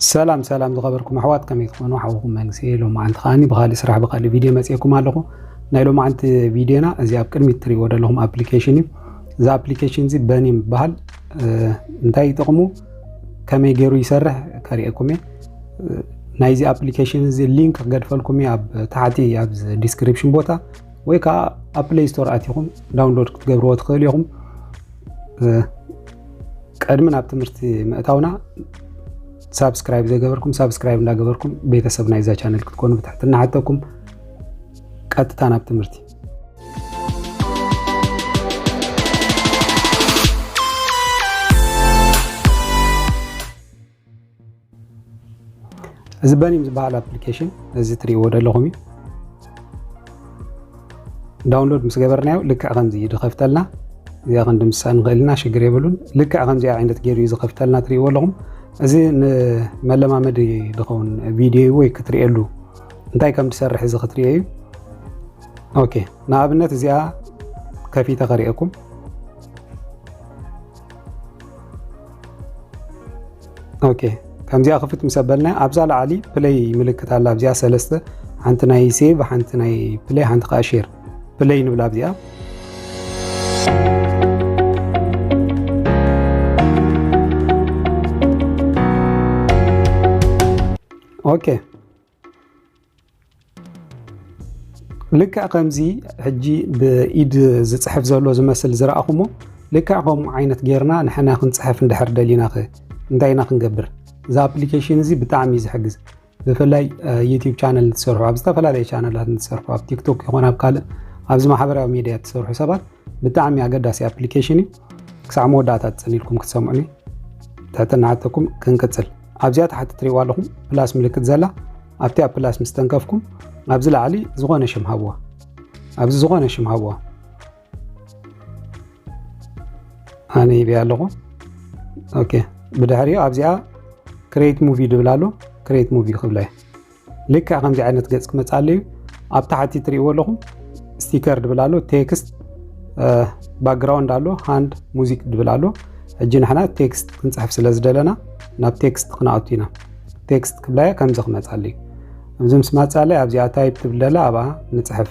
ሰላም ሰላም ዝኸበርኩም ኣሕዋት ከመይ ትኾኑ ሓውኹም መንግስኤ ሎማዓንቲ ከዓኒ ብካሊእ ስራሕ ብካሊእ ቪድዮ መፅኤኩም ኣለኹ ናይ ሎማዓንቲ ቪድዮና እዚ ኣብ ቅድሚት ትሪእዎ ዘለኹም ኣፕሊኬሽን እዩ እዚ ኣፕሊኬሽን እዚ በኒም ይበሃል እንታይ ጥቕሙ ከመይ ገይሩ ይሰርሕ ከሪኤኩም እየ ናይዚ ኣፕሊኬሽን እዚ ሊንክ ክገድፈልኩም እየ ኣብ ታሕቲ ኣብ ዲስክሪፕሽን ቦታ ወይ ከዓ ኣብ ፕሌይ ስቶር ኣትኹም ዳውንሎድ ክትገብርዎ ትኽእሉ ኢኹም ቀድሚ ናብ ትምህርቲ ምእታውና ሳብስክራይብ ዘይገበርኩም ሳብስክራይብ እንዳገበርኩም ቤተሰብ ናይዛ ቻነል ክትኮኑ ብትሕትና ሓተኩም ቀጥታ ናብ ትምህርቲ እዚ በኒም ዝበሃል ኣፕሊኬሽን እዚ ትሪእዎ ዘለኹም እዩ ዳውንሎድ ምስ ገበርናዮ ልክዕ ከምዚ እዩ ዝኸፍተልና እዚኣ ክንዲ ምሳእ ንኽእል ኢና ሽግር የብሉን ልክዕ ከምዚኣ ዓይነት ገይሩ እዩ ዝኸፍተልና ትሪእዎ ኣለኹም እዚ ንመለማመዲ ዝኸውን ቪድዮ እዩ ወይ ክትሪእሉ እንታይ ከም ትሰርሕ እዚ ክትሪኦ እዩ ኦኬ ንኣብነት እዚኣ ከፊተ ከሪአኩም ኦኬ ከምዚኣ ክፍት ምስ ኣበልና ኣብዛ ላዕሊ ፕለይ ምልክት ኣላ ኣብዚኣ ሰለስተ ሓንቲ ናይ ሴቭ ሓንቲ ናይ ፕለይ ሓንቲ ከዓ ሼር ፕለይ ንብላ ኣብዚኣ ኦኬ ልክዕ ከምዚ ሕጂ ብኢድ ዝፅሕፍ ዘሎ ዝመስል ዝረኣኹሞ ልክዕ ከምኡ ዓይነት ጌርና ንሕና ክንፅሕፍ እንድሕር ደሊና ኸ እንታይ ኢና ክንገብር? እዚ ኣፕሊኬሽን እዚ ብጣዕሚ እዩ ዝሕግዝ። ብፍላይ ዩቲዩብ ቻነል እንትሰርሑ ኣብ ዝተፈላለየ ቻነላት እንትሰርሑ ኣብ ቲክቶክ ይኹን ኣብ ካልእ ኣብዚ ማሕበራዊ ሚዲያ እትሰርሑ ሰባት ብጣዕሚ ኣገዳሲ ኣፕሊኬሽን እዩ። ክሳዕ መወዳእታ ትፅን ኢልኩም ክትሰምዑኒ ትሕትና ሓተኩም ክንቅፅል ኣብዚኣ ታሕቲ ትሪእዋ ኣለኹም ፕላስ ምልክት ዘላ ኣብቲ ኣብ ፕላስ ምስ ተንከፍኩም ኣብዚ ላዕሊ ዝኾነ ሽም ሃብዋ ኣብዚ ዝኾነ ሽም ሃብዋ ኣነ ይብያ ኣለኹ ኦኬ ብድሕሪኡ ኣብዚኣ ክሬት ሙቪ ድብል ኣሎ ክሬት ሙቪ ክብላ እዩ ልክዕ ከምዚ ዓይነት ገጽ ክመጽእ ኣለዩ ኣብ ታሕቲ ትርእይዎ ኣለኹም ስቲከር ድብል ኣሎ ቴክስት ባክግራውንድ ኣሎ ሃንድ ሙዚክ ድብል ኣሎ ሕጂ ንሕና ቴክስት ክንፅሕፍ ስለ ዝደለና ናብ ቴክስት ክንኣቱ ኢና ቴክስት ክብላየ ከምዚ ክመፃሉ እዩ እዚ ምስ ማፃለ ኣብዚኣ ታይፕ ትብል ደላ ኣብኣ ንፅሕፍ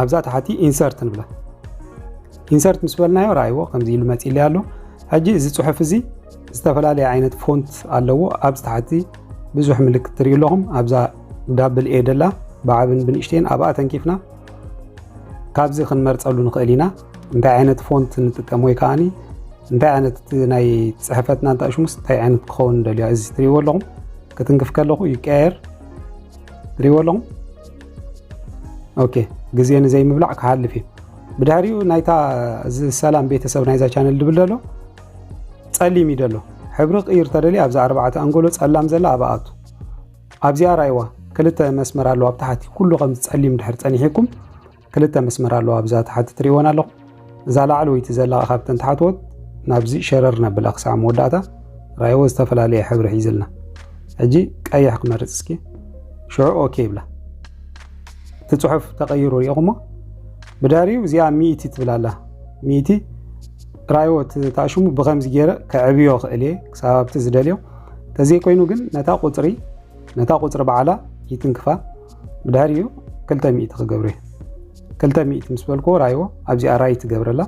ኣብዛ ታሕቲ ኢንሰርት ንብላ ኢንሰርት ምስ በልናዮ ረኣይዎ ከምዚ ኢሉ መፂእለይ ኣሎ ሕጂ እዚ ፅሑፍ እዚ ዝተፈላለየ ዓይነት ፎንት ኣለዎ ኣብዚ ታሕቲ ብዙሕ ምልክት ትሪኡ ኣለኹም ኣብዛ ዳብል ኤ ደላ ብዓብን ብንእሽተን ኣብኣ ተንኪፍና ካብዚ ክንመርፀሉ ንኽእል ኢና እንታይ ዓይነት ፎንት ንጥቀም ወይ ከዓኒ እንታይ ዓይነት ናይ ፅሕፈትና እንታሽሙስ እንታይ ዓይነት ክኸውን ደልዮ እዚ ትሪእዎ ኣለኹም ክትንክፍ ከለኹ ይቀያየር ትሪእዎ ኣለኹም ኦኬ ግዜ ንዘይ ምብላዕ ክሃልፍ እዩ ብድሕሪኡ ናይታ ሰላም ቤተሰብ ናይዛ ቻነል ድብል ደሎ ጸሊም እዩ ደሎ ሕብሪ ቅይር ተደሊ ኣብዚ ኣርባዕተ ኣንጎሎ ጸላም ዘላ ኣብኣቱ ኣብዚኣ ራይዋ ክልተ መስመር ኣለዋ ኣብ ታሕቲ ኩሉ ከም ጸሊም ድሕር ጸኒሒኩም ክልተ መስመር ኣለዋ ኣብዛ ታሕቲ ትሪእወን ኣለኹም እዛ ላዕለወይቲ ዘላ ካብተን ተሓትወት ናብዚ ሸረር ነብላ ክሳዕ መወዳእታ ራይዎ ዝተፈላለየ ሕብሪ ሒዝልና ሕጂ ቀይሕ ክመርፅ እስኪ ሽዑ ኦኬ ይብላ እቲ ፅሑፍ ተቐይሩ ሪኢኹሞ ብዳሪኡ እዚኣ ሚእቲ ትብል ኣላ ሚእቲ ራይዎ ተኣሽሙ ብከምዚ ገይረ ከዕብዮ ክእል እየ ክሳብ ኣብቲ ዝደልዮ ተዘይኮይኑ ግን ነታ ቁፅሪ ነታ ቁፅሪ በዓላ ይትንክፋ ብድሕሪኡ ክልተ ሚእቲ ክገብር እየ ክልተ ሚእቲ ምስ በልክዎ ራይዎ ኣብዚኣ ራይት ትገብረላ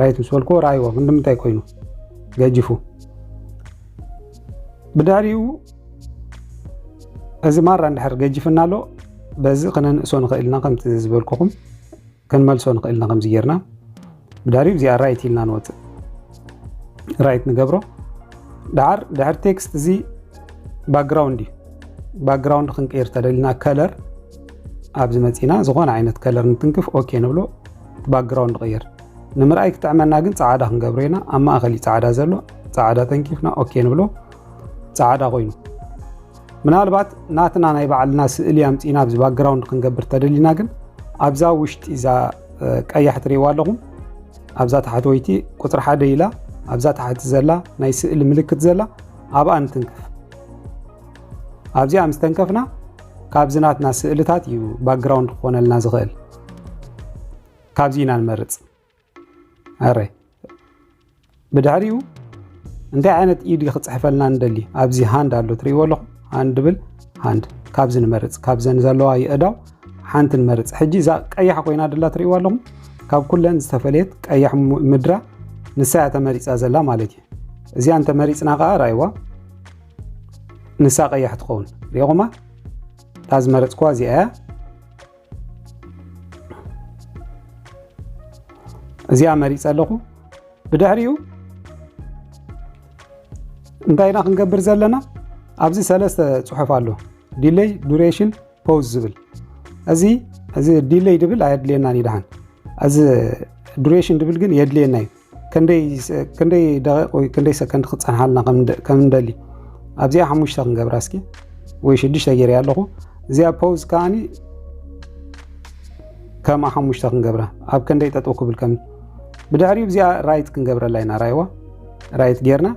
ራይት ምስ በልክዎ ራይዎ ክንድምንታይ ኮይኑ ገጅፉ ብድሕሪኡ እዚ ማራ እንድሕር ገጅፍና ኣሎ በዚ ክነንእሶ ንኽእልና ከምቲ ዝበልኩኹም ክንመልሶ ንኽእልና ከምዚ ጌርና ብዳሪብ እዚኣ ራይት ኢልና ንወፅእ ራይት ንገብሮ ዳዓር ድሕር ቴክስት እዚ ባክግራውንድ እዩ ባክግራውንድ ክንቀይር ተደልና ከለር ኣብዚ መፂና ዝኾነ ዓይነት ከለር ንትንክፍ ኦኬ ንብሎ ባክግራውንድ ቀይር ንምርኣይ ክጥዕመና ግን ፃዕዳ ክንገብሮ ኢና ኣብ ማእኸል እዩ ፃዕዳ ዘሎ ፃዕዳ ተንኪፍና ኦኬ ንብሎ ፃዕዳ ኮይኑ ምናልባት ናትና ናይ ባዕልና ስእሊ ኣምጺና ኣብዚ ባክግራውንድ ክንገብር ተደሊና ግን ኣብዛ ውሽጢ እዛ ቀያሕ ትሪእዋ ኣለኹም ኣብዛ ታሕተወይቲ ቁፅሪ ሓደ ኢላ ኣብዛ ታሕቲ ዘላ ናይ ስእሊ ምልክት ዘላ ኣብኣ ንትንከፍ ኣብዚኣ ምስ ተንከፍና ካብዚ ናትና ስእልታት እዩ ባክግራውንድ ክኾነልና ዝኽእል ካብዚ ኢና ንመርፅ ኣረ ብድሕሪኡ እንታይ ዓይነት ኢድ ክፅሕፈልና ንደሊ ኣብዚ ሃንድ ኣሎ ትሪእዎ ኣለኹ ሃንድ ብል ሃንድ ካብዚ ንመርፅ ካብዘን ዘለዋ የእዳው ሓንቲ ንመርፅ ሕጂ እዛ ቀያሕ ኮይና ድላ ትሪእዎ ኣለኹም ካብ ኩለን ዝተፈለየት ቀያሕ ምድራ ንሳ እያ ተመሪፃ ዘላ ማለት እዩ እዚኣ እንተመሪፅና ከዓ ራይዋ ንሳ ቀያሕ ትኸውን ሪኹማ እታ ዝመረፅኩዋ እዚኣ እያ እዚኣ መሪፀ ኣለኹ ብድሕሪኡ እንታይ ኢና ክንገብር ዘለና ኣብዚ ሰለስተ ፅሑፍ ኣሎ ዲለይ ዱሬሽን ፖዝ ዝብል እዚ እዚ ዲለይ ድብል ኣየድልየናን ይድሓን እዚ ዱሬሽን ድብል ግን የድልየና እዩ ክንደይ ደቂቕ ወይ ክንደይ ሰከንድ ክፀንሓልና ከም ንደሊ ኣብዚኣ ሓሙሽተ ክንገብራ እስኪ ወይ ሽዱሽተ ገይረ ኣለኹ እዚኣ ፖዝ ከዓኒ ከምኣ ሓሙሽተ ክንገብራ ኣብ ክንደይ ጠጠው ክብል ከም ብድሕሪኡ እዚኣ ራይት ክንገብረላ ኢና ራይዋ ራይት ጌርና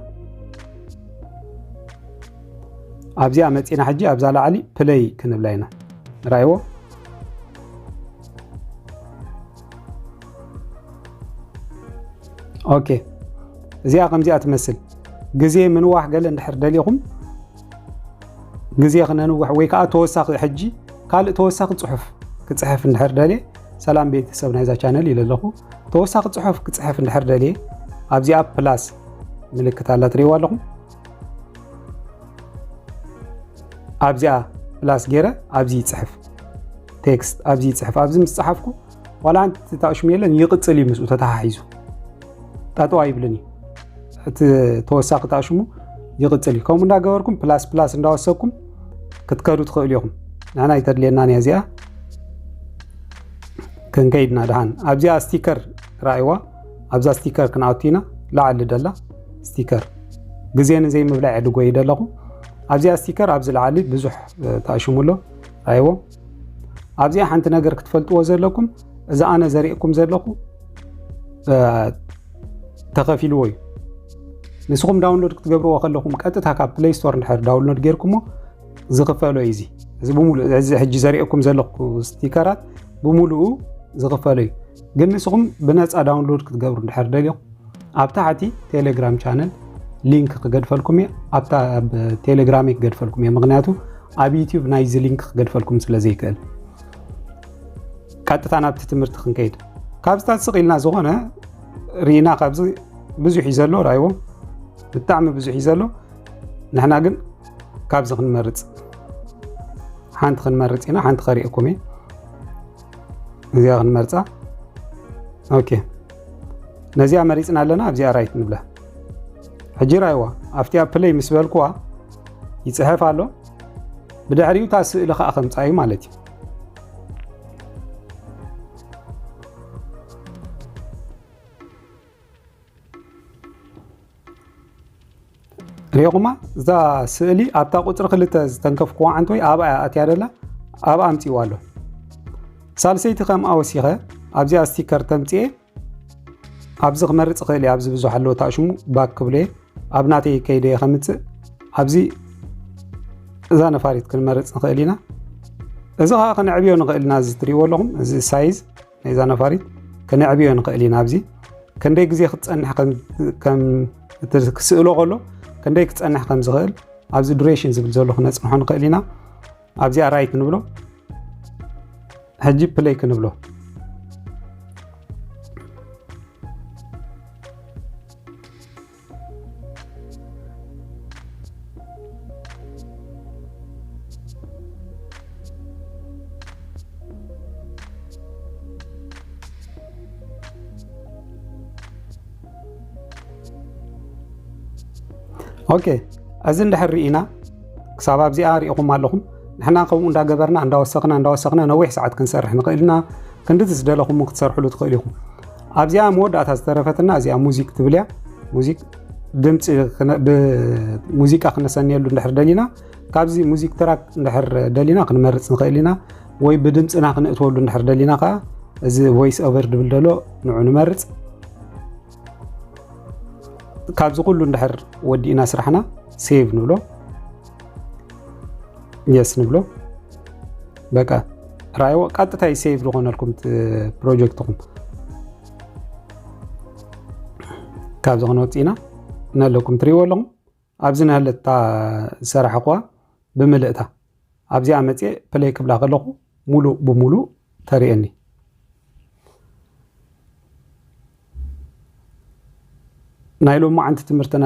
ኣብዚኣ መፂና ሕጂ ኣብዛ ላዕሊ ፕለይ ክንብላ ኢና ራይዎ ኦኬ እዚኣ ከምዚኣ ትመስል ግዜ ምንዋሕ ገለ እንድሕር ደሊኹም ግዜ ክነንውሕ ወይ ከዓ ተወሳኺ ሕጂ ካልእ ተወሳኺ ፅሑፍ ክፅሕፍ እንድሕር ደልየ ሰላም ቤተሰብ ናይዛ ቻነል ኢለ ኣለኹ ተወሳኺ ፅሑፍ ክፅሕፍ እንድሕር ደልየ ኣብዚኣ ፕላስ ምልክት ኣላ ትሪእዋ ኣለኹም ኣብዚኣ ፕላስ ገይረ ኣብዚ ይፅሕፍ ቴክስት ኣብዚ ይፅሕፍ ኣብዚ ምስ ፀሓፍኩ ዋላ ኣንቲ ተጣሽሙ የለን ይቕፅል እዩ ምስኡ ተተሓሒዙ ጠጠው ኣይብልን እዩ እቲ ተወሳኺ ጣሽሙ ይቕፅል እዩ ከምኡ እንዳገበርኩም ፕላስ ፕላስ እንዳወሰኩም ክትከዱ ትኽእሉ ኢኹም ንሕና ይተድልየናን እያ እዚኣ ክንከይድና ድሃን ኣብዚኣ ስቲከር ረኣይዋ ኣብዛ ስቲከር ክንኣቱ ኢና ላዕሊ ደላ ስቲከር ግዜ ንዘይ ምብላዕ ዕድጎ እዩ ደለኹ ኣብዚኣ ስቲከር ኣብዚ ላዓሊ ብዙሕ ተኣሽሙ ኣሎ ኣይዎ ኣብዚኣ ሓንቲ ነገር ክትፈልጥዎ ዘለኩም እዚ ኣነ ዘርእኩም ዘለኹ ተኸፊልዎ እዩ ንስኹም ዳውንሎድ ክትገብርዎ ከለኹም ቀጥታ ካብ ፕሌይ ስቶር ንድሕር ዳውንሎድ ጌርኩሞ ዝኽፈሎ እዩ እዚ እዚ ብምሉእ እዚ ሕጂ ዘርእኩም ዘለኹ ስቲከራት ብምሉኡ ዝኽፈሎ እዩ ግን ንስኹም ብነፃ ዳውንሎድ ክትገብሩ እንድሕር ደሊኹም ኣብ ታሕቲ ቴሌግራም ቻነል ሊንክ ክገድፈልኩም እየ ኣብታ ኣብ ቴሌግራም ክገድፈልኩም እየ ምክንያቱ ኣብ ዩቲዩብ ናይዚ ሊንክ ክገድፈልኩም ስለ ዘይክእል ቀጥታ ናብቲ ትምህርቲ ክንከይድ ካብ ስታት ስቕ ኢልና ዝኾነ ርኢና ካብዚ ብዙሕ እዩ ዘሎ ራይዎ ብጣዕሚ ብዙሕ እዩ ዘሎ ንሕና ግን ካብዚ ክንመርፅ ሓንቲ ክንመርፅ ኢና ሓንቲ ከሪእኩም እየ እዚኣ ክንመርፃ ኦኬ ነዚኣ መሪፅና ኣለና ኣብዚኣ ራይት ንብላ ሕጂ ራይዋ ኣብቲኣ ፕለይ ምስ በልኩዋ ይፅሐፍ ኣሎ ብድሕሪኡ እታ ስእሊ ከዓ ከምፃ እዩ ማለት እዩ ሪኹማ እዛ ስእሊ ኣብታ ቁፅሪ ክልተ ዝተንከፍክዋ ዓንተወይ ኣብኣ እያ ኣትያ ደላ ኣብኣ ኣምፅዋ ኣሎ ሳልሰይቲ ከምኣ ወሲኸ ኣብዚኣ ስቲከር ተምፅኤ ኣብዚ ክመርፅ ክእል እየ ኣብዚ ብዙሕ ኣለዎ ታሽሙ ባክ ክብሎ እየ ኣብ ናተይ ከይደ እየ ከምፅእ ኣብዚ እዛ ነፋሪት ክንመርፅ ንኽእል ኢና እዚ ከዓ ክንዕብዮ ንኽእል ኢና እዚ ትሪእዎ ኣለኹም እዚ ሳይዝ ናይዛ ነፋሪት ከነዕብዮ ንኽእል ኢና ኣብዚ ከንደይ ግዜ ክትፀንሕ ክስእሎ ከሎ ከንደይ ክፀንሕ ከም ዝኽእል ኣብዚ ዱሬሽን ዝብል ዘሎ ክነፅንሖ ንኽእል ኢና ኣብዚኣ ራይ ክንብሎ ሕጂ ፕለይ ክንብሎ ኦኬ እዚ እንድሕር ርኢና ክሳብ ኣብዚኣ ሪኢኹም ኣለኹም ንሕና ከምኡ እንዳገበርና እንዳወሰኽና እንዳወሰኽና ነዊሕ ሰዓት ክንሰርሕ ንኽእል ኢና ክንድዚ ዝደለኹም ክትሰርሕሉ ትኽእል ኢኹም ኣብዚኣ መወዳእታ ዝተረፈትና እዚኣ ሙዚክ ትብል እያ ሙዚክ ድምፂ ብሙዚቃ ክነሰንየሉ እንድሕር ደሊና ካብዚ ሙዚክ ትራክ እንድሕር ደሊና ክንመርፅ ንኽእል ኢና ወይ ብድምፅና ክንእትወሉ እንድሕር ደሊና ከዓ እዚ ቮይስ ኦቨር ድብል ደሎ ንዑ ንመርፅ ካብዚ ኩሉ እንድሕር ወዲእና ስራሕና ሴቭ ንብሎ የስ ንብሎ በቃ ራይዎ ቀጥታ ይሴቭ ዝኾነልኩም ፕሮጀክትኹም ካብዚ ክንወፅ ኢና ነለኩም ትሪእዎ ኣለኹም ኣብዚ ናሃለታ ዝሰራሕኹዋ ብምልእታ ኣብዚኣ መፅኤ ፕለይ ክብላ ከለኹ ሙሉእ ብሙሉእ ተርእየኒ ናይ ሎማዓንቲ ትምህርትና